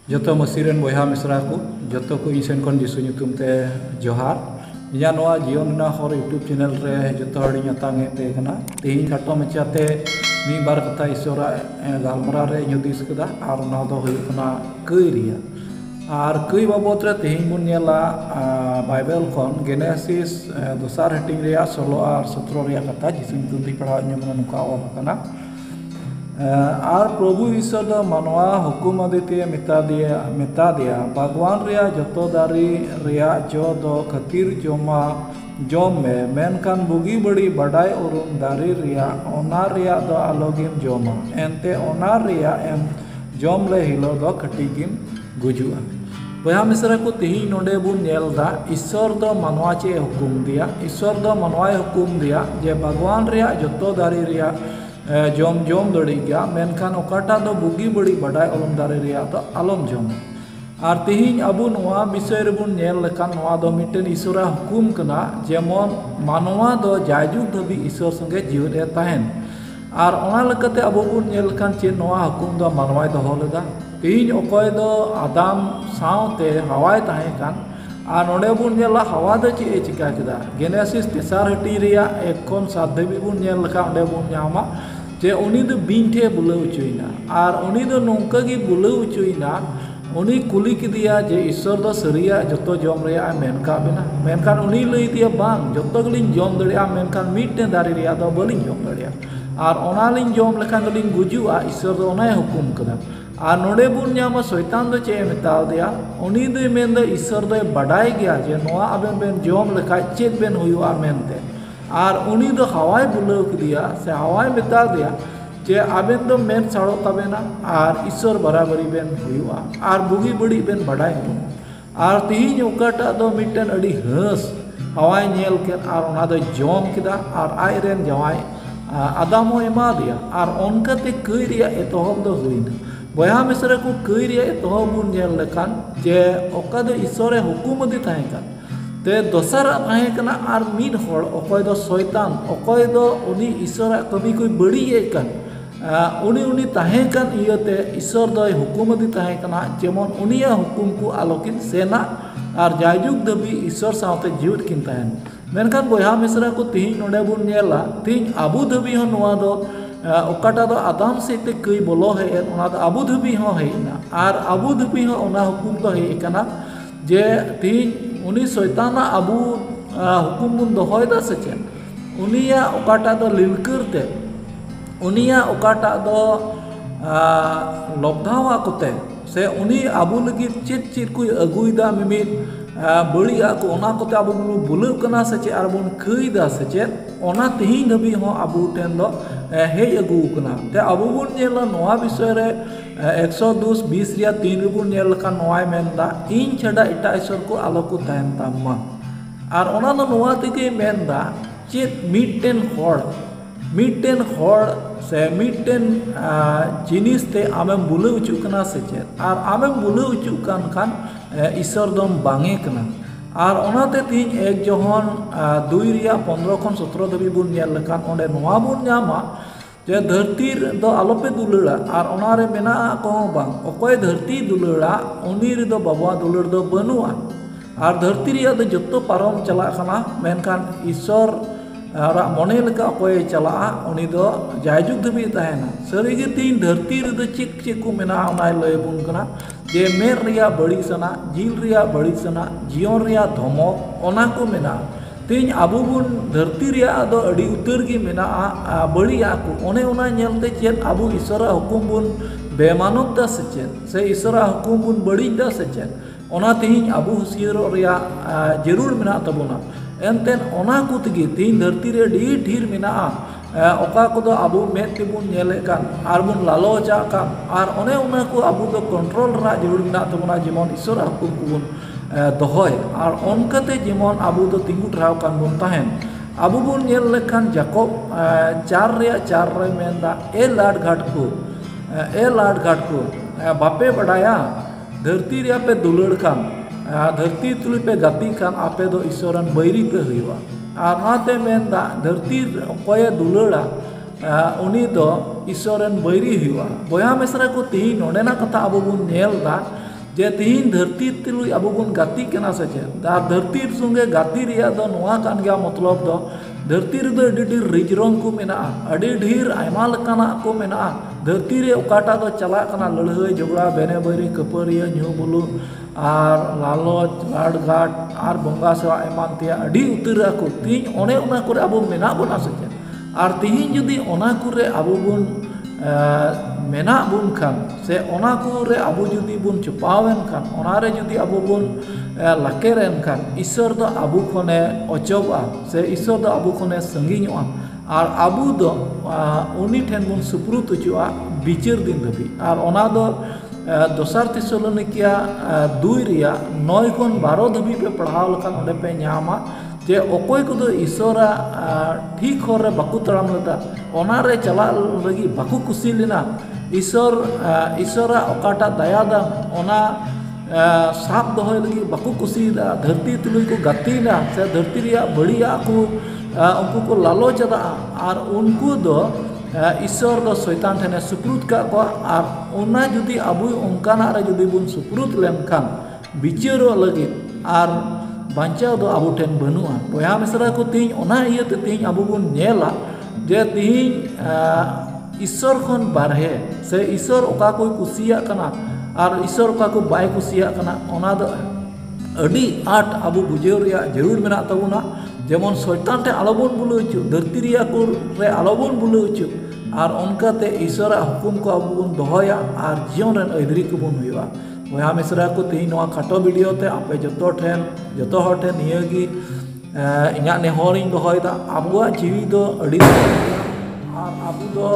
ᱡᱚᱛᱚ ᱢᱟᱹᱥᱤ ᱨᱮᱱ ᱵᱚᱭᱦᱟ ᱢᱤᱥᱨᱟ ᱠᱚ ᱡᱚᱛᱚ ᱠᱚ ᱤᱧ ᱥᱮᱱ ᱠᱷᱚᱱ ᱡᱤᱥᱩ ᱧᱩᱛᱩᱢ ᱛᱮ ᱡᱚᱦᱟᱨ ᱤᱧᱟᱹᱜ ᱱᱚᱣᱟ ᱡᱤᱭᱚᱱ ᱨᱮᱱᱟᱜ ᱦᱚᱨ ᱤᱭᱩᱴᱩᱵᱽ ᱪᱮᱱᱮᱞ ᱨᱮ ᱡᱚᱛᱚ ᱦᱚᱲᱤᱧ ᱟᱛᱟᱝ ᱮᱫ ᱯᱮ ᱠᱟᱱᱟ ᱛᱮᱦᱮᱧ ᱠᱷᱟᱴᱚ ᱢᱟᱪᱷᱟᱛᱮ ᱢᱤᱫ ᱵᱟᱨ ᱠᱟᱛᱷᱟ ᱤᱥᱚᱨᱟᱜ ᱜᱟᱞᱢᱟᱨᱟᱣ ᱨᱮ ᱤᱧ ᱦᱩᱫᱤᱥ ᱠᱮᱫᱟ ᱟᱨ ᱚᱱᱟ ᱫᱚ ᱦᱩᱭᱩᱜ ᱠᱟᱱᱟ ᱠᱟᱹᱭ ᱨᱮᱭᱟᱜ ᱟᱨ ᱠᱟᱹᱭ ᱵᱟᱵᱚᱫ ᱨᱮ ᱛᱮᱦᱮᱧ ᱵᱚᱱ ᱧᱮᱞᱟ ᱵᱟᱭᱵᱮᱞ ᱠᱷᱚᱱ ᱜᱮᱱᱮᱥᱤᱥ ᱫᱚᱥᱟᱨ ᱦᱟᱹᱴᱤᱧ ᱨᱮᱭᱟᱜ ᱥᱳᱞᱳ ᱟᱨ ᱥᱚᱛᱨᱚ ᱨᱮᱭᱟᱜ ᱠᱟᱛᱷᱟ ᱡᱤᱥᱩ ᱧᱩᱛᱩᱢ ᱛᱤᱧ ᱯᱟᱲᱦᱟᱣ ᱮᱫ ᱱᱚᱝᱠᱟ ᱚᱞ ᱟᱠᱟᱱᱟ ᱟᱨ ᱯᱨᱚᱵᱷᱩ ᱤᱥᱩ ᱫᱚ ᱢᱟᱱᱣᱟ ᱦᱩᱠᱩᱢ ᱟᱫᱮ ᱛᱮ ᱢᱮᱛᱟ ᱫᱮᱭᱟ ᱢᱮᱛᱟ ᱫᱮᱭᱟ ᱵᱟᱜᱽᱣᱟᱱ ᱨᱮᱭᱟᱜ ᱡᱚᱛᱚ ᱫᱟᱨᱮ ᱨᱮᱭᱟᱜ ᱡᱚ ᱫᱚ ᱠᱷᱟᱹᱛᱤᱨ ᱡᱚᱢᱟᱜ ᱡᱚᱢ ᱢᱮ ᱢᱮᱱᱠᱷᱟᱱ ᱵᱩᱜᱤ ᱵᱟᱹᱲᱤᱡ ᱵᱟᱰᱟᱭ ᱩᱨᱩᱢ ᱫᱟᱨᱮ ᱨᱮᱭᱟᱜ ᱚᱱᱟ ᱨᱮᱭᱟᱜ ᱫᱚ ᱟᱞᱚ ᱜᱮᱢ ᱡᱚᱢᱟ ᱮᱱᱛᱮ ᱚᱱᱟ ᱨᱮᱭᱟᱜ ᱮᱢ ᱡᱚᱢ ᱞᱮ ᱦᱤᱞᱳᱜ ᱫᱚ ᱠᱟᱹᱴᱤᱡ ᱜᱮᱢ ᱜᱩᱡᱩᱜᱼᱟ᱾ ᱵᱚᱭᱦᱟ ᱢᱤᱥᱨᱟ ᱠᱚ ᱛᱤᱦᱤᱧ ᱱᱚᱸᱰᱮ ᱵᱚᱱ ᱧᱮᱞ ᱫᱟ ᱤᱥᱥᱚᱨ ᱫᱚ ᱢᱟᱱᱣᱟ ᱪᱮᱫ ᱮ ᱦᱩᱠᱩᱢ ᱫᱮᱭᱟ? ᱤᱥᱥᱚᱨ ᱫᱚ ᱢᱟᱱᱣᱟᱭ ᱦᱩᱠᱩᱢ ᱫᱮᱭᱟ ᱡᱮ ᱵᱟᱜᱽᱣᱟᱱ ᱨᱮᱭᱟᱜ ᱡᱚᱛᱚ ᱫᱟᱨᱮ ᱨᱮᱭᱟᱜ ᱡᱚᱢ ᱡᱚᱢ ᱫᱟᱲᱮᱜ ᱜᱮᱭᱟ ᱢᱮᱱᱠᱷᱟᱱ ᱚᱠᱟᱴᱟᱜ ᱫᱚ ᱵᱩᱜᱤ ᱵᱟᱹᱲᱤᱡ ᱵᱟᱰᱟᱭ ᱚᱞᱚᱢ ᱫᱟᱨᱮ ᱨᱮᱭᱟᱜ ᱫᱚ ᱟᱞᱚᱢ ᱡᱚᱢᱟ᱾ ᱟᱨ ᱛᱤᱦᱤᱧ ᱟᱵᱚ ᱱᱚᱣᱟ ᱵᱤᱥᱚᱭ ᱨᱮᱵᱚᱱ ᱧᱮᱞ ᱞᱮᱠᱷᱟᱱ ᱱᱚᱣᱟ ᱫᱚ ᱢᱤᱫᱴᱮᱱ ᱤᱥᱥᱚᱨᱟᱜ ᱦᱩᱠᱩᱢ ᱠᱟᱱᱟ ᱡᱮᱢᱚᱱ ᱢᱟᱱᱣᱟ ᱫᱚ ᱡᱟᱭᱡᱩᱜᱽ ᱫᱷᱟᱹᱵᱤᱡ ᱤᱥᱥᱚᱨ ᱥᱚᱸᱜᱮ ᱡᱤᱣᱮᱫ ᱮ ᱛᱟᱦᱮᱱ᱾ ᱟᱨ ᱚᱱᱟ ᱞᱮᱠᱟᱛᱮ ᱟᱵᱚ ᱵᱚᱱ ᱧᱮᱞ ᱞᱮᱠᱷᱟᱱ ᱪᱮᱫ ᱱᱚᱣᱟ ᱦᱩᱠᱩᱢ ᱫᱚ ᱢᱟᱱᱣᱟᱭ ᱫᱚᱦᱚ ᱞᱮᱫᱟ ᱛᱮᱦᱤᱧ ᱚᱠᱚᱭ ᱫᱚ ᱟᱫᱟᱢ ᱥᱟᱶᱛᱮ ᱦᱟᱣᱟᱭ ᱛᱟᱦᱮᱸ ᱠᱟᱱ ᱟᱨ ᱱᱚᱰᱮ ᱵᱚᱱ ᱧᱮᱞᱟ ᱦᱟᱣᱟ ᱫᱚ ᱪᱮᱫ ᱮ ᱪᱤᱠᱟᱹ ᱠᱮᱫᱟ ᱜᱮᱱᱮᱥᱤᱥ ᱛᱮᱥᱟᱨ ᱦᱟᱹᱴᱤᱧ ᱨᱮᱭᱟᱜ ᱮᱠ ᱠᱷᱚᱱ ᱥᱟᱛ ᱫᱷᱟᱹᱵᱤᱡ ᱵᱚᱱ ᱧᱮᱞ ᱞᱮᱠᱷᱟᱱ ᱚᱸᱰᱮ ᱵᱚᱱ ᱧᱟᱢᱟ ᱡᱮ ᱩᱱᱤ ᱫᱚ ᱵᱤᱧ ᱴᱷᱮᱱ ᱮ ᱵᱩᱞᱟᱹᱣ ᱦᱚᱪᱚᱭᱮᱱᱟ ᱟᱨ ᱩᱱᱤ ᱫᱚ ᱱᱚᱝᱠᱟ ᱜᱮ ᱵᱩᱞᱟᱹᱣ ᱦᱚᱪᱚᱭᱮᱱᱟ ᱩᱱᱤᱭ ᱠᱩᱞᱤ ᱠᱮᱫᱮᱭᱟ ᱡᱮ ᱤᱥᱥᱚᱨ ᱫᱚ ᱥᱟᱹᱨᱤᱭᱟᱜ ᱡᱚᱛᱚ ᱡᱚᱢ ᱨᱮᱭᱟᱜ ᱮ ᱢᱮᱱ ᱠᱟᱜ ᱵᱮᱱᱟ ᱢᱮᱱᱠᱷᱟᱱ ᱩᱱᱤᱭ ᱞᱟᱹᱭ ᱟᱫᱮᱭᱟ ᱵᱟᱝ ᱡᱚᱛᱚ ᱜᱮᱞᱤᱧ ᱡᱚᱢ ᱫᱟᱲᱮᱭᱟᱜᱼᱟ ᱢᱮᱱᱠᱷᱟᱱ ᱢᱤᱫᱴᱮᱱ ᱫᱟᱨᱮ ᱨᱮᱭᱟᱜ ᱫᱚ ᱵᱟᱹᱞᱤᱧ ᱡᱚᱢ ᱫᱟᱲᱮᱭᱟᱜᱼᱟ ᱟᱨ ᱚᱱᱟ ᱞᱤᱧ ᱡᱚᱢ ᱞᱮᱠᱷᱟᱱ ᱫᱚᱞᱤᱧ ᱜᱩᱡᱩᱜᱼᱟ ᱤᱥᱥᱚᱨ ᱫᱚ ᱚᱱᱟᱭ ᱦᱩᱠᱩᱢ ᱠᱟᱫᱟ ᱟᱨ ᱱᱚᱰᱮ ᱵᱚᱱ ᱧᱟᱢᱟ ᱥᱚᱭᱛᱟᱱ ᱫᱚ ᱪᱮᱫ ᱮ ᱢᱮᱛᱟ ᱫᱮᱭᱟ ᱩᱱᱤ ᱫᱚᱭ ᱢᱮᱱᱫᱟ ᱤᱥᱥᱚᱨ ᱫᱚᱭ ᱵᱟᱰᱟᱭ ᱜᱮᱭᱟ ᱡᱮ ᱱᱚᱣᱟ ᱟᱵᱮᱱ ᱵᱮᱱ ᱡᱚᱢ ᱞᱮᱠᱷᱟᱡ ᱪᱮᱫ ᱵᱮᱱ ᱦᱩᱭᱩᱜᱼᱟ ᱢᱮᱱᱛᱮ ᱟᱨ ᱩᱱᱤ ᱫᱚ ᱦᱟᱣᱟᱭ ᱵᱩᱞᱟᱹᱣ ᱠᱮᱫᱮᱭᱟ ᱥᱮ ᱦᱟᱣᱟᱭ ᱢᱮᱛᱟ ᱫᱮᱭᱟ ᱡᱮ ᱟᱵᱮᱱ ᱫᱚ ᱢᱮᱫ ᱥᱟᱲᱚᱜ ᱛᱟᱵᱮᱱᱟ ᱟᱨ ᱤᱥᱥᱚᱨ ᱵᱟᱨᱟᱵᱟᱹᱨᱤ ᱵᱮᱱ ᱦᱩᱭᱩᱜᱼᱟ ᱟᱨ ᱵᱩᱜᱤ ᱵᱟᱹᱲᱤᱡ ᱵᱮᱱ ᱵᱟᱰᱟᱭ ᱧᱟᱢᱟ ᱟᱨ ᱛᱮᱦᱤᱧ ᱚᱠᱟᱴᱟᱜ ᱫᱚ ᱢᱤᱫᱴᱮᱱ ᱟᱹᱰᱤ ᱦᱟᱹᱥ ᱦᱟᱣᱟᱭ ᱧᱮᱞ ᱠᱮᱫ ᱟᱨ ᱚᱱᱟ ᱫᱚᱭ ᱡᱚᱢ ᱠᱮᱫᱟ ᱟᱨ ᱟᱡ ᱨᱮᱱ ᱡᱟᱶᱟᱭ ᱟᱫᱟᱢ ᱦᱚᱸᱭ ᱮᱢᱟᱫᱮᱭᱟ ᱟᱨ ᱚᱱᱠᱟᱛᱮ ᱠᱟᱹᱭ ᱨᱮᱭᱟᱜ ᱮᱛᱚᱦᱚᱵ ᱫᱚ ᱦᱩᱭᱱᱟ ᱵᱚᱭᱦᱟ ᱢᱤᱥᱨᱟ ᱠᱚ ᱠᱟᱹᱭ ᱨᱮᱭᱟᱜ ᱮᱛᱚᱦᱚᱵ ᱵᱚᱱ ᱧᱮᱞ ᱞᱮᱠᱷᱟᱱ ᱡᱮ ᱚᱠᱟ ᱫᱚ ᱤᱥᱥᱚᱨᱮ ᱦᱩᱠᱩᱢ ᱟᱫᱮ ᱛᱟᱦᱮᱸ ᱠᱟᱱ ᱛᱮ ᱫᱚᱥᱟᱨᱟᱜ ᱛᱟᱦᱮᱸ ᱠᱟᱱᱟ ᱟᱨ ᱢᱤᱫ ᱦᱚᱲ ᱚᱠᱚᱭ ᱫᱚ ᱥᱚᱭᱛᱟᱱ ᱚᱠᱚᱭ ᱫᱚ ᱩᱱᱤ ᱤᱥᱚᱨᱟᱜ ᱠᱟᱹᱢᱤ ᱠᱚᱭ ᱵᱟᱹᱲᱤᱡᱮᱫ ᱠᱟᱱ ᱩᱱᱤ ᱩᱱᱤ ᱛᱟᱦᱮᱸ ᱠᱟᱱ ᱤᱭᱟᱹᱛᱮ ᱤᱥᱚᱨ ᱫᱚᱭ ᱦᱩᱠᱩᱢ ᱟᱫᱮ ᱛᱟᱦᱮᱸ ᱠᱟᱱᱟ ᱡᱮᱢᱚᱱ ᱩᱱᱤᱭᱟᱜ ᱦᱩᱠᱩᱢ ᱠᱚ ᱟᱞᱚ ᱠᱤᱱ ᱥᱮᱱᱟ ᱟᱨ ᱡᱟᱭᱡᱩᱜᱽ ᱫᱷᱟᱹᱵᱤᱡ ᱤᱥᱚᱨ ᱥᱟᱶᱛᱮ ᱡᱤᱣᱮᱫ ᱠᱤᱱ ᱛᱟᱦᱮᱱ ᱢᱮᱱᱠᱷᱟᱱ ᱵᱚᱭᱦᱟ ᱢᱤᱥᱨᱟ ᱠᱚ ᱛᱤᱦᱤᱧ ᱱᱚᱰᱮ ᱵᱚᱱ ᱧᱮᱞᱟ ᱛᱤᱦᱤᱧ ᱟᱵᱚ ᱫᱷᱟᱹᱵᱤᱡ ᱦᱚᱸ ᱱᱚᱣᱟ ᱫᱚ ᱚᱠᱟᱴᱟᱜ ᱫᱚ ᱟᱫᱟᱢ ᱥᱮᱫ ᱛᱮ ᱠᱟᱹᱭ ᱵᱚᱞᱚ ᱦᱮᱡ ᱮᱱ ᱚᱱᱟ ᱫᱚ ᱟᱵᱚ ᱫᱷᱟᱹᱵᱤᱡ ᱦᱚᱸ ᱦᱮᱡ ᱮᱱᱟ ᱟᱨ ᱟᱵᱚ ᱫᱷᱟᱹᱵᱤᱡ ᱦᱚᱸ ᱚᱱᱟ ᱦᱩᱠᱩᱢ ᱫᱚ ᱦᱮᱡ ᱠᱟᱱᱟ ᱡᱮ ᱛᱮᱦᱤᱧ ᱩᱱᱤ ᱥᱚᱭᱛᱟᱱᱟᱜ ᱟᱵᱚ ᱦᱩᱠᱩᱢ ᱵᱚᱱ ᱫᱚᱦᱚᱭᱮᱫᱟ ᱥᱮ ᱪᱮᱫ ᱩᱱᱤᱭᱟᱜ ᱚᱠᱟᱴᱟᱜ ᱫᱚ ᱞᱤᱞᱠᱟᱹᱨ ᱛᱮ ᱩᱱᱤᱭᱟᱜ ᱚᱠᱟᱴᱟᱜ ᱫᱚ ᱞᱚᱵᱫᱷᱟᱣᱟᱜ ᱠᱚᱛᱮ ᱥᱮ ᱩᱱᱤ ᱟᱵᱚ ᱞᱟᱹᱜᱤᱫ ᱪᱮᱫ ᱪᱮᱫ ᱠᱚᱭ ᱟᱹᱜᱩᱭᱮᱫᱟ ᱢᱤᱢᱤᱫ ᱵᱟᱹᱲᱤᱡ ᱟᱜ ᱠᱚ ᱚᱱᱟ ᱠᱚᱛᱮ ᱟᱵᱚ ᱵᱚᱱ ᱵᱷᱩᱞᱟᱹᱜ ᱠᱟᱱᱟ ᱥᱮ ᱪᱮᱫ ᱟᱨ ᱵᱚᱱ ᱠᱟᱹᱭᱫᱟ ᱥᱮ ᱪᱮᱫ ᱚᱱᱟ ᱛᱮᱦᱤᱧ ᱫᱷᱟᱹᱵᱤᱡ ᱦᱚᱸ ᱟᱵᱚ ᱴᱷᱮᱱ ᱫᱚ ᱦᱮᱡ ᱟᱹᱜᱩ ᱠᱟᱱᱟ ᱟᱵᱚ ᱵᱚᱱ ᱧᱮᱞᱟ ᱱᱚᱣᱟ ᱵᱤᱥᱚᱭ ᱨᱮ ᱮᱠᱥᱚ ᱫᱩᱥ ᱵᱤᱥ ᱨᱮᱭᱟᱜ ᱛᱤᱱ ᱨᱮᱵᱚᱱ ᱧᱮᱞ ᱞᱮᱠᱷᱟᱱ ᱱᱚᱣᱟᱭ ᱢᱮᱱᱫᱟ ᱤᱧ ᱪᱷᱟᱰᱟ ᱮᱴᱟᱜ ᱤᱥᱚᱨ ᱠᱚ ᱟᱞᱚ ᱠᱚ ᱛᱟᱦᱮᱱ ᱛᱟᱢ ᱢᱟ ᱟᱨ ᱚᱱᱟ ᱫᱚ ᱱᱚᱣᱟ ᱛᱮᱜᱮᱭ ᱢᱮᱱᱫᱟ ᱪᱮᱫ ᱢᱤᱫᱴᱮᱱ ᱦᱚᱲ ᱢᱤᱫᱴᱮᱱ ᱦᱚᱲ ᱥᱮ ᱢᱤᱫᱴᱮᱱ ᱡᱤᱱᱤᱥ ᱛᱮ ᱟᱢᱮᱢ ᱵᱩᱞᱟᱹᱣ ᱦᱚᱪᱚᱜ ᱠᱟᱱᱟ ᱥᱮ ᱪᱮᱫ ᱟᱨ ᱟᱢᱮᱢ ᱵᱩᱞᱟᱹᱣ ᱦᱚᱪᱚᱜ ᱠᱟᱱ ᱠᱷᱟᱱ ᱤᱥᱚᱨ ᱫᱚᱢ ᱵᱟᱝᱮ ᱠᱟᱱᱟ ᱟᱨ ᱚᱱᱟᱛᱮ ᱛᱮᱦᱤᱧ ᱮᱠ ᱡᱚᱦᱚᱱ ᱫᱩᱭ ᱨᱮᱭᱟᱜ ᱯᱚᱱᱨᱚ ᱠᱷᱚᱱ ᱥᱚᱛᱨᱚ ᱫᱷᱟᱹᱵᱤᱡ ᱵᱚᱱ ᱧᱮᱞ ᱞᱮᱠᱷᱟᱱ ᱚᱸᱰᱮ ᱱᱚᱣᱟ ᱵᱚᱱ ᱧᱟᱢᱟ ᱡᱮ ᱫᱷᱟᱹᱨᱛᱤ ᱨᱮᱫᱚ ᱟᱞᱚᱯᱮ ᱫᱩᱞᱟᱹᱲᱟ ᱟᱨ ᱚᱱᱟ ᱨᱮ ᱢᱮᱱᱟᱜᱼᱟ ᱠᱚᱦᱚᱸ ᱵᱟᱝ ᱚᱠᱚᱭ ᱫᱷᱟᱹᱨᱛᱤᱭ ᱫᱩᱞᱟᱹᱲᱟ ᱩᱱᱤ ᱨᱮᱫᱚ ᱵᱟᱵᱟᱣᱟᱜ ᱫᱩᱞᱟᱹᱲ ᱫᱚ ᱵᱟᱹᱱᱩᱜᱼᱟ ᱟᱨ ᱫᱷᱟᱹᱨᱛᱤ ᱨᱮᱭᱟᱜ ᱫᱚ ᱡᱚᱛᱚ ᱯᱟᱨᱚᱢ ᱪᱟᱞᱟᱜ ᱠᱟᱱᱟ ᱢᱮᱱᱠᱷᱟᱱ ᱤᱥᱥᱚᱨ ᱟᱨᱟᱜ ᱢᱚᱱᱮ ᱞᱮᱠᱟ ᱚᱠᱚᱭᱮ ᱪᱟᱞᱟᱜᱼᱟ ᱩᱱᱤ ᱫᱚ ᱡᱟᱭ ᱡᱩᱜᱽ ᱫᱷᱟᱹᱵᱤᱡ ᱮ ᱛᱟᱦᱮᱱᱟ ᱥᱟᱹᱨᱤᱜᱮ ᱛᱮᱦᱤᱧ ᱫᱷᱟᱹᱨᱛᱤ ᱨᱮᱫᱚ ᱪᱮᱫ ᱪᱮᱫ ᱠᱚ ᱢᱮᱱᱟᱜᱼᱟ ᱚᱱᱟᱭ ᱞᱟᱹᱭ ᱟᱵᱚᱱ ᱠᱟᱱᱟ ᱡᱮ ᱢᱮᱫ ᱨᱮᱭᱟᱜ ᱵᱟᱹᱲᱤᱡ ᱥᱟᱱᱟᱜ ᱡᱤᱞ ᱨᱮᱭᱟᱜ ᱵᱟᱹᱲᱤᱡ ᱥᱟᱱᱟᱜ ᱡᱤᱭᱚᱱ ᱨᱮᱭᱟᱜ ᱫᱷᱚᱢᱚᱠ ᱚᱱᱟ ᱠᱚ ᱢᱮᱱᱟᱜᱼᱟ ᱛᱮᱦᱤᱧ ᱟᱵᱚ ᱵᱚᱱ ᱫᱷᱟᱹᱨᱛᱤ ᱨᱮᱭᱟᱜ ᱫᱚ ᱟᱹᱰᱤ ᱩᱛᱟᱹᱨ ᱜᱮ ᱢᱮᱱᱟᱜᱼᱟ ᱵᱟᱹᱲᱤᱡ ᱟᱜ ᱠᱚ ᱚᱱᱮ ᱚᱱᱟ ᱧᱮᱞ ᱛᱮ ᱪᱮᱫ ᱟᱵᱚ ᱤᱥᱚᱨᱟᱜ ᱦᱩᱠᱩᱢ ᱵᱚᱱ ᱵᱮᱼᱢᱟᱱᱚᱛ ᱮᱫᱟ ᱥᱮ ᱪᱮᱫ ᱥᱮ ᱤᱥᱚᱨᱟᱜ ᱦᱩᱠᱩᱢ ᱵᱚᱱ ᱵᱟᱹᱲᱤᱡ ᱮᱫᱟ ᱥᱮ ᱪᱮᱫ ᱚᱱᱟ ᱛᱮᱦᱤᱧ ᱟᱵᱚ ᱦᱩᱥᱭᱟᱹᱨᱚᱜ ᱨᱮᱭᱟᱜ ᱡᱟᱹᱨᱩᱲ ᱢᱮᱱᱟᱜ ᱛᱟᱵᱚᱱᱟ ᱮᱱᱛᱮᱫ ᱚᱱᱟ ᱠᱚ ᱛᱮᱜᱮ ᱛᱮᱦᱤᱧ ᱫᱷᱟᱹᱨᱛᱤ ᱨᱮ ᱰᱷᱮᱨ ᱰᱷᱮᱨ ᱢᱮᱱᱟᱜᱼᱟ ᱚᱠᱟ ᱠᱚᱫᱚ ᱟᱵᱚ ᱢᱮᱫ ᱛᱮᱵᱚᱱ ᱧᱮᱞᱮᱫ ᱠᱟᱱ ᱟᱨ ᱵᱚᱱ ᱞᱟᱞᱚ ᱦᱚᱪᱚᱣᱟᱜ ᱠᱟᱱ ᱟᱨ ᱚᱱᱮ ᱚᱱᱟ ᱠᱚ ᱟᱵᱚ ᱫᱚ ᱠᱚᱱᱴᱨᱳᱞ ᱨᱮᱱᱟᱜ ᱡᱟᱹᱨᱩᱲ ᱢᱮᱱᱟᱜ ᱛᱟᱵᱚᱱᱟ ᱡᱮᱢᱚᱱ ᱤᱥᱥᱚᱨ ᱟᱜ ᱦᱩᱠᱩᱢ ᱠᱚᱵᱚᱱ ᱫᱚᱦᱚᱭ ᱟᱨ ᱚᱱᱠᱟᱛᱮ ᱡᱮᱢᱚᱱ ᱟᱵᱚ ᱫᱚ ᱛᱤᱸᱜᱩ ᱴᱟᱨᱦᱟᱣ ᱟᱠᱟᱱ ᱵᱚᱱ ᱛᱟᱦᱮᱱ ᱟᱵᱚ ᱵᱚᱱ ᱧᱮᱞ ᱞᱮᱠᱷᱟᱱ ᱡᱟᱠᱚᱵ ᱪᱟᱨ ᱨᱮᱭᱟᱜ ᱪᱟᱨ ᱨᱮᱭ ᱢᱮᱱᱫᱟ ᱮ ᱞᱟᱨᱰ ᱜᱟᱰ ᱠᱚ ᱮ ᱞᱟᱨᱰ ᱜᱟᱰ ᱠᱚ ᱵᱟᱯᱮ ᱵᱟᱰᱟᱭᱟ ᱫᱷᱟᱹᱨᱛᱤ ᱨᱮᱭᱟᱜ ᱯᱮ ᱫᱩᱞᱟᱹᱲ ᱠᱟᱱ ᱫᱷᱟᱹᱨᱛᱤ ᱛᱩᱞᱩᱡ ᱯᱮ ᱜᱟᱛᱮᱜ ᱠᱟᱱ ᱟᱯᱮ ᱫᱚ ᱤᱥᱥᱚᱨ ᱨᱮᱱ ᱵᱟᱹᱭᱨᱤ ᱯᱮ ᱦᱩᱭᱩᱜᱼᱟ ᱟᱨ ᱚᱱᱟᱛᱮ ᱢᱮᱱᱫᱟ ᱫᱷᱟᱹᱨᱛᱤ ᱨᱮ ᱚᱠᱚᱭᱮ ᱫᱩᱞᱟᱹᱲᱟ ᱩᱱᱤ ᱫᱚ ᱤᱥᱥᱚᱨ ᱨᱮᱱ ᱵᱟᱹᱭᱨᱤ ᱦᱩᱭᱩᱜᱼᱟ ᱵᱚᱭᱦᱟ ᱢᱤᱥᱨᱟ ᱠᱚ ᱛᱮᱦᱤᱧ ᱱᱚᱰᱮᱱᱟᱜ ᱠᱟᱛᱷᱟ ᱟᱵᱚ ᱵᱚᱱ ᱧᱮᱞᱫᱟ ᱡᱮ ᱛᱮᱦᱤᱧ ᱫᱷᱟᱹᱨᱛᱤ ᱛᱩᱞᱩᱡ ᱟᱵᱚ ᱵᱚᱱ ᱜᱟᱛᱮᱜ ᱠᱟᱱᱟ ᱥᱮ ᱪᱮᱫ ᱟᱨ ᱫᱷᱟᱹᱨᱛᱤ ᱥᱚᱸᱜᱮ ᱜᱟᱛᱮ ᱨᱮᱭᱟᱜ ᱫᱚ ᱱᱚᱣᱟ ᱠᱟᱱ ᱜᱮᱭᱟ ᱢᱚᱛᱞᱚᱵ ᱫᱚ ᱫᱷᱟᱹᱨᱛᱤ ᱨᱮᱫᱚ ᱟᱹᱰᱤ ᱰᱷᱮᱨ ᱨᱤᱡᱽ ᱨᱚᱝ ᱠᱚ ᱢᱮᱱᱟᱜᱼᱟ ᱟᱹᱰᱤ ᱰᱷᱮᱨ ᱟᱭᱢᱟ ᱞᱮᱠᱟᱱᱟᱜ ᱠᱚ ᱢᱮᱱᱟᱜᱼᱟ ᱫᱷᱟᱹᱨᱛᱤ ᱨᱮ ᱚᱠᱟᱴᱟᱜ ᱫᱚ ᱪᱟᱞᱟᱜ ᱠᱟᱱᱟ ᱞᱟᱹᱲᱦᱟᱹᱭ ᱡᱷᱚᱜᱽᱲᱟ ᱵᱮᱨᱮ ᱵᱟᱹᱨᱤ ᱠᱷᱟᱹᱯᱟᱹᱨᱤᱭᱟᱹ ᱧᱩ ᱵᱩᱞᱩᱜ ᱟᱨ ᱞᱟᱞᱚᱪ ᱜᱟᱲ ᱜᱷᱟᱴ ᱟᱨ ᱵᱚᱸᱜᱟ ᱥᱟᱞᱟ ᱮᱢᱟᱱ ᱛᱮᱭᱟᱜ ᱟᱹᱰᱤ ᱩᱛᱟᱹᱨ ᱟᱠᱚ ᱛᱮᱦᱤᱧ ᱚᱱᱮ ᱚᱱᱟ ᱠᱚᱨᱮᱜ ᱟᱵᱚ ᱢᱮᱱᱟᱜ ᱵᱚᱱᱟ ᱥᱮ ᱪᱮᱫ ᱟᱨ ᱛᱮᱦᱤᱧ ᱡᱩᱫᱤ ᱚᱱᱟ ᱠᱚᱨᱮ ᱟᱵᱚ ᱵᱚᱱ ᱢᱮᱱᱟᱜ ᱵᱚᱱ ᱠᱷᱟᱱ ᱥᱮ ᱚᱱᱟ ᱠᱚᱨᱮ ᱟᱵᱚ ᱡᱩᱫᱤ ᱵᱚᱱ ᱪᱚᱯᱟᱣ ᱮᱱ ᱠᱷᱟᱱ ᱚᱱᱟᱨᱮ ᱡᱩᱫᱤ ᱟᱵᱚ ᱵᱚᱱ ᱞᱟᱠᱮᱨ ᱮᱱ ᱠᱷᱟᱱ ᱤᱥᱥᱚᱨ ᱫᱚ ᱟᱵᱚ ᱠᱷᱚᱱᱮ ᱚᱪᱚᱜᱚᱜᱼᱟ ᱥᱮ ᱤᱥᱥᱚᱨ ᱫᱚ ᱟᱵᱚ ᱠᱷᱚᱱᱮ ᱥᱟᱹᱜᱤᱧᱚᱜᱼᱟ ᱟᱨ ᱟᱵᱚ ᱫᱚ ᱩᱱᱤ ᱴᱷᱮᱱ ᱵᱚᱱ ᱥᱩᱯᱨᱩᱫ ᱦᱚᱪᱚᱜᱼᱟ ᱵᱤᱪᱟᱹᱨ ᱫᱤᱱ ᱫᱷᱟᱹᱵᱤᱡ ᱟᱨ ᱚᱱᱟ ᱫᱚ ᱫᱚᱥᱟᱨ ᱛᱤᱥᱚᱞᱚᱱᱤᱠᱤᱭᱟ ᱫᱩᱭ ᱨᱮᱭᱟᱜ ᱱᱚᱭ ᱠᱷᱚᱱ ᱵᱟᱨᱚ ᱫᱷᱟᱹᱵᱤᱡ ᱯᱮ ᱯᱟᱲᱦᱟᱣ ᱞᱮᱠᱷᱟᱱ ᱚᱸᱰᱮ ᱯᱮ ᱧᱟᱢᱟ ᱡᱮ ᱚᱠᱚᱭ ᱠᱚᱫᱚ ᱤᱥᱚᱨᱟᱜ ᱴᱷᱤᱠ ᱦᱚᱨ ᱨᱮ ᱵᱟᱠᱚ ᱛᱟᱲᱟᱢ ᱞᱮᱫᱟ ᱚᱱᱟ ᱨᱮ ᱪᱟᱞᱟᱜ ᱞᱟᱹᱜᱤᱫ ᱵᱟᱠᱚ ᱠᱩᱥᱤ ᱞᱮᱱᱟ ᱤᱥᱚᱨ ᱤᱥᱚᱨᱟᱜ ᱚᱠᱟᱴᱟᱜ ᱫᱟᱭᱟ ᱫᱟᱜ ᱚᱱᱟ ᱥᱟᱵ ᱫᱚᱦᱚᱭ ᱞᱟᱹᱜᱤᱫ ᱵᱟᱠᱚ ᱠᱩᱥᱤᱭᱟᱫᱟ ᱫᱷᱟᱹᱨᱛᱤ ᱛᱩᱞᱩᱡ ᱠᱚ ᱜᱟᱛᱮᱭᱮᱱᱟ ᱥᱮ ᱫᱷᱟᱹᱨᱛᱤ ᱨᱮᱭᱟᱜ ᱵᱟᱹᱲᱤᱡᱟᱜ ᱠᱚ ᱩᱱᱠᱩ ᱠᱚ ᱞᱟᱞᱚᱪ ᱟᱫᱟ ᱟᱨ ᱩᱱᱠᱩ ᱫᱚ ᱤᱥᱥᱚᱨ ᱫᱚ ᱥᱚᱭᱛᱟᱱ ᱴᱷᱮᱱᱮ ᱥᱩᱯᱨᱩᱫ ᱠᱟᱜ ᱠᱚᱣᱟ ᱟᱨ ᱚᱱᱟ ᱡᱩᱫᱤ ᱟᱵᱚ ᱚᱱᱠᱟᱱᱟᱜ ᱨᱮ ᱡᱩᱫᱤ ᱵᱚᱱ ᱥᱩᱯᱨᱩᱫ ᱞᱮᱱᱠᱷᱟᱱ ᱵᱤᱪᱟᱹᱨᱚᱜ ᱞᱟᱹᱜᱤᱫ ᱟᱨ ᱵᱟᱧᱪᱟᱣ ᱫᱚ ᱟᱵᱚ ᱴᱷᱮᱱ ᱵᱟᱹᱱᱩᱜᱼᱟ ᱵᱚᱭᱦᱟ ᱢᱤᱥᱨᱟ ᱠᱚ ᱛᱮᱦᱤᱧ ᱚᱱᱟ ᱤᱭᱟᱹᱛᱮ ᱛᱮᱦᱤᱧ ᱟᱵᱚ ᱵᱚᱱ ᱧᱮᱞᱟ ᱡᱮ ᱛᱮᱦᱤᱧ ᱤᱥᱥᱚᱨ ᱠᱷᱚᱱ ᱵᱟᱦᱨᱮ ᱥᱮ ᱤᱥᱥᱚᱨ ᱚᱠᱟ ᱠᱚᱭ ᱠᱩᱥᱤᱭᱟᱜ ᱠᱟᱱᱟ ᱟᱨ ᱤᱥᱥᱚᱨ ᱚᱠᱟ ᱠᱚ ᱵᱟᱭ ᱠᱩᱥᱤᱭᱟᱜ ᱠᱟᱱᱟ ᱚᱱᱟ ᱫᱚ ᱟᱹᱰᱤ ᱟᱸᱴ ᱟᱵᱚ ᱵᱩᱡᱷᱟᱹᱣ ᱨᱮᱭᱟᱜ ᱡᱟᱹᱨᱩᱲ ᱢᱮᱱᱟᱜ ᱛᱟᱵᱚᱱᱟ ᱡᱮᱢᱚᱱ ᱥᱚᱭᱛᱟᱱ ᱴᱷᱮᱱ ᱟᱞᱚ ᱵᱚᱱ ᱵᱚᱞᱚ ᱦᱚᱪᱚᱜ ᱫᱷᱟᱹᱨᱛᱤ ᱨᱮᱭᱟᱜ ᱠᱚ ᱨᱮ ᱟᱞᱚ ᱵᱚᱱ ᱵᱚᱞᱚ ᱦᱚᱪᱚᱜ ᱟᱨ ᱚᱱᱠᱟᱛᱮ ᱤᱥᱚᱨᱟᱜ ᱦᱩᱠᱩᱢ ᱠᱚ ᱟᱵᱚ ᱵᱚᱱ ᱫᱚᱦᱚᱭᱟ ᱟᱨ ᱡᱤᱭᱚᱱ ᱨᱮᱱ ᱟᱹᱭᱫᱟᱹᱨᱤ ᱠᱚᱵᱚᱱ ᱦᱩᱭᱩᱜᱼᱟ ᱵᱚᱭᱦᱟ ᱢᱤᱥᱨᱟ ᱠᱚ ᱛᱮᱦᱮᱧ ᱱᱚᱣᱟ ᱠᱷᱟᱴᱚ ᱵᱷᱤᱰᱭᱳ ᱛᱮ ᱟᱯᱮ ᱡᱚᱛᱚ ᱴᱷᱮᱱ ᱡᱚᱛᱚ ᱦᱚᱲ ᱴᱷᱮᱱ ᱱᱤᱭᱟᱹᱜᱮ ᱤᱧᱟᱹᱜ ᱱᱮᱦᱚᱨ ᱤᱧ ᱫᱚᱦᱚᱭᱮᱫᱟ ᱟᱵᱚᱣᱟᱜ ᱡᱤᱣᱤ ᱫᱚ ᱟᱹᱰᱤ ᱟᱨ ᱟᱵᱚ ᱫᱚ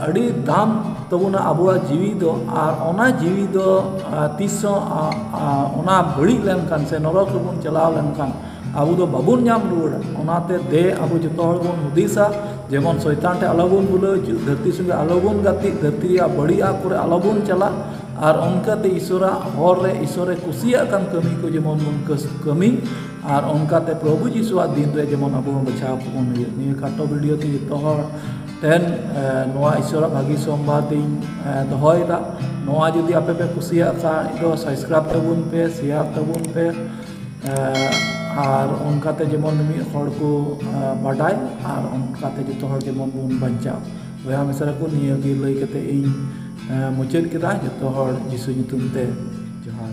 ᱟᱹᱰᱤ ᱫᱟᱢ ᱛᱟᱵᱚᱱᱟ ᱟᱵᱚᱣᱟᱜ ᱡᱤᱣᱤ ᱫᱚ ᱟᱨ ᱚᱱᱟ ᱡᱤᱣᱤ ᱫᱚ ᱛᱤᱥ ᱦᱚᱸ ᱚᱱᱟ ᱵᱟᱹᱲᱤᱡ ᱞᱮᱱᱠᱷᱟᱱ ᱥᱮ ᱱᱚᱨᱚᱠ ᱨᱮᱵᱚᱱ ᱪᱟᱞᱟᱣ ᱞᱮᱱᱠᱷᱟᱱ ᱟᱵᱚ ᱫᱚ ᱵᱟᱵᱚᱱ ᱧᱟᱢ ᱨᱩᱣᱟᱹᱲᱟ ᱚᱱᱟᱛᱮ ᱫᱮ ᱟᱵᱚ ᱡᱚᱛᱚ ᱦᱚᱲ ᱵᱚᱱ ᱦᱩᱫᱤᱥᱟ ᱡᱮᱢᱚᱱ ᱥᱚᱭᱛᱟᱱ ᱴᱷᱮᱱ ᱟᱞᱚ ᱵᱚᱱ ᱵᱷᱩᱞᱟᱹᱜ ᱫᱷᱟᱹᱨᱛᱤ ᱥᱚᱸᱜᱮ ᱟᱞᱚ ᱵᱚᱱ ᱜᱟᱛᱮᱜ ᱫᱷᱟᱹᱨᱛᱤ ᱨᱮᱭᱟᱜ ᱵᱟᱹᱲᱤᱡ ᱟᱜ ᱠᱚᱨᱮ ᱟᱞᱚ ᱵᱚᱱ ᱪᱟᱞᱟᱜ ᱟᱨ ᱚᱱᱠᱟᱛᱮ ᱤᱥᱚᱨᱟᱜ ᱦᱚᱨ ᱨᱮ ᱤᱥᱚᱨᱮ ᱠᱩᱥᱤᱭᱟᱜ ᱠᱟᱱ ᱠᱟᱹᱢᱤ ᱠᱚ ᱡᱮᱢᱚᱱ ᱵᱚᱱ ᱠᱟᱹᱢᱤ ᱟᱨ ᱚᱱᱠᱟᱛᱮ ᱯᱨᱚᱵᱷᱩ ᱡᱤᱥᱩᱣᱟᱜ ᱫᱤᱱ ᱨᱮ ᱡᱮᱢᱚᱱ ᱟᱵᱚ ᱦᱚᱸ ᱵᱟᱪᱷᱟᱣ ᱠᱚᱵᱚᱱ ᱦᱩᱭᱩᱜ ᱱᱤᱭᱟᱹ ᱠᱷᱟᱴᱚ ᱵᱷᱤᱰᱭᱳ ᱛᱮ ᱡᱚᱛᱚ ᱦᱚᱲ ᱴᱷᱮᱱ ᱱᱚᱣᱟ ᱤᱥᱚᱨᱟᱜ ᱵᱷᱟᱹᱜᱤ ᱥᱚᱢᱵᱟᱫ ᱤᱧ ᱫᱚᱦᱚᱭᱮᱫᱟ ᱱᱚᱣᱟ ᱡᱩᱫᱤ ᱟᱯᱮ ᱯᱮ ᱠᱩᱥᱤᱭᱟᱜ ᱠᱷᱟᱱ ᱫᱚ ᱥᱟᱵᱥᱠᱨᱟᱭᱤᱵ ᱛᱟᱵᱚᱱ ᱯᱮ ᱥᱮᱭᱟᱨ ᱛᱟᱵᱚᱱ ᱯᱮ ᱟᱨ ᱚᱱᱠᱟᱛᱮ ᱡᱮᱢᱚᱱ ᱢᱤᱢᱤᱫ ᱦᱚᱲ ᱠᱚ ᱵᱟᱰᱟᱭ ᱟᱨ ᱚᱱᱠᱟᱛᱮ ᱡᱚᱛᱚ ᱦᱚᱲ ᱡᱮᱢᱚᱱ ᱵᱚᱱ ᱵᱟᱧᱪᱟᱜ ᱵᱚᱭᱦᱟ ᱢᱤᱥᱨᱟ ᱠᱚ ᱱᱤᱭᱟᱹ ᱜᱮ ᱞᱟᱹᱭ ᱠᱟᱛᱮ ᱤᱧ ᱢᱩᱪᱟᱹᱫ ᱠᱮᱫᱟ ᱡᱚᱛᱚ ᱦᱚᱲ ᱡᱤᱥᱩ ᱧᱩᱛᱩᱢ ᱛᱮ ᱡᱚᱦᱟᱨ